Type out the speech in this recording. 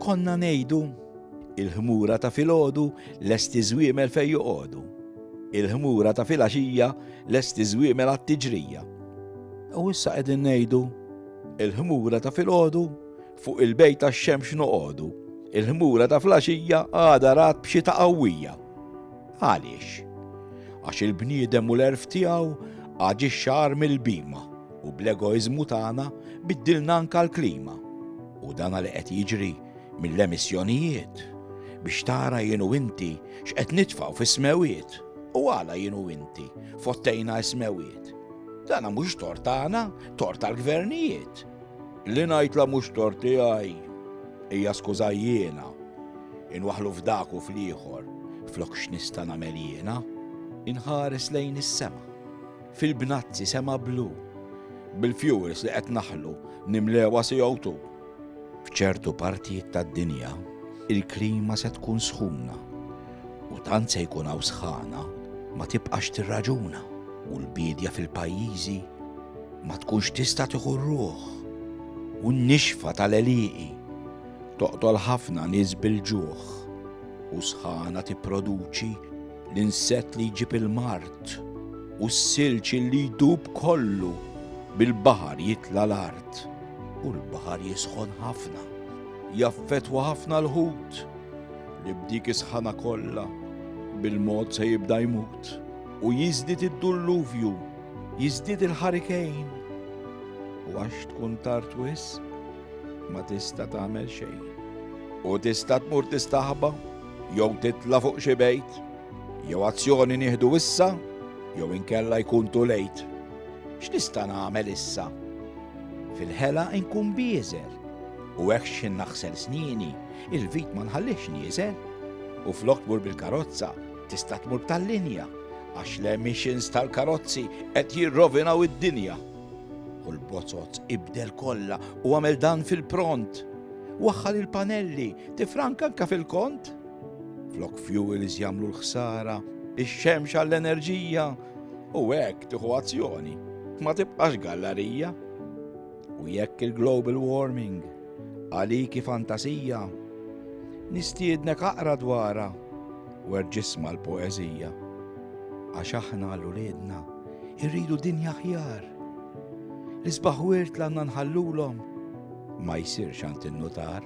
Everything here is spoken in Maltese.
Konna ngħidu, il-ħmura ta' filgħodu lesti żwiemel fejn joqogħdu. Il-ħmura ta' filgħaxija lesti żwiemel għat-tiġrija. U issa qegħdin ngħidu, il-ħmura ta' filgħodu fuq il-bejt tax-xemx noqogħdu. Il-ħmura ta' flaxija għada rat b'xi ta' qawwija. Għaliex? Għax il-bniedem u l-għerf tiegħu aġixxa agħar mill-bhima u bl-egoiżmu tagħna biddilna anke l-klima. U dan li qed jiġri mill-emissjonijiet biex tara jien u inti x'qed nitfgħu fis-smewiet u għala jien u inti fottejna s-smewiet. Dana mhux tort tagħna, tort tal-gvernijiet. Li ngħidla mhux tort tiegħi, hija skuża jiena, inwaħħlu f'dak u fl-ieħor, flok x'nista' nagħmel jiena? Inħares lejn is-sema, fil-bnazzi sema blu, bil-fuels li qed naħlu nimlewha CO2. F'ċertu partijiet tad-dinja, il-klima se tkun sħuna u tant se jkun hawn sħana ma tibqax tirraġuna u l-biedja fil-pajjiżi Ma tkunx tista' tieħu r-ruħ, u n-nixfa tal-għelieqi toqtol ħafna nies bil-ġuħ, u sħana tipproduċi l-insett li jġib il-mard, u s-silġ li jdub kollu bil-baħar jitla' l-art, u l-baħar jisħon ħafna, jaffettwa ħafna l-ħut, li b'dik is-sħana kollha bil-mod se jibda jmut, u jiżdied id-dulluvju. Jiżdied il-ħarikejn u għax tkun tard wisq ma tista' tagħmel xejn. U tista' tmur tistaħba jew titla' fuq xi bejt, jew azzjoni nieħdu issa jew inkella jkun tu lejt. X'nista' nagħmel issa? Fil-ħela inkun bieżel u hekk x'in naħsel snini, il-vit ma nħallix nieżel u flok mur bil-karozza Tista' tmur tal-linja għax l-emissions tal-karozzi qed jirrovinaw id-dinja. U l-bozot ibdel kollha u għamel dan fil-pront. Waħħal il-panelli, tifranka anka fil-kont. Flok fuels jagħmlu l-ħsara, ix-xemx għall-enerġija u hekk tieħu azzjoni. Ma tibqax gallarija. U jekk il-global warming għaliki fantasija, nistiednek aqra dwara Wer ġisma l-poeżija, għax aħna għal uliedna irridu dinja ħjar. L-isbaħ wirt l għandna nħallulhom ma jsirx għand in-nutar.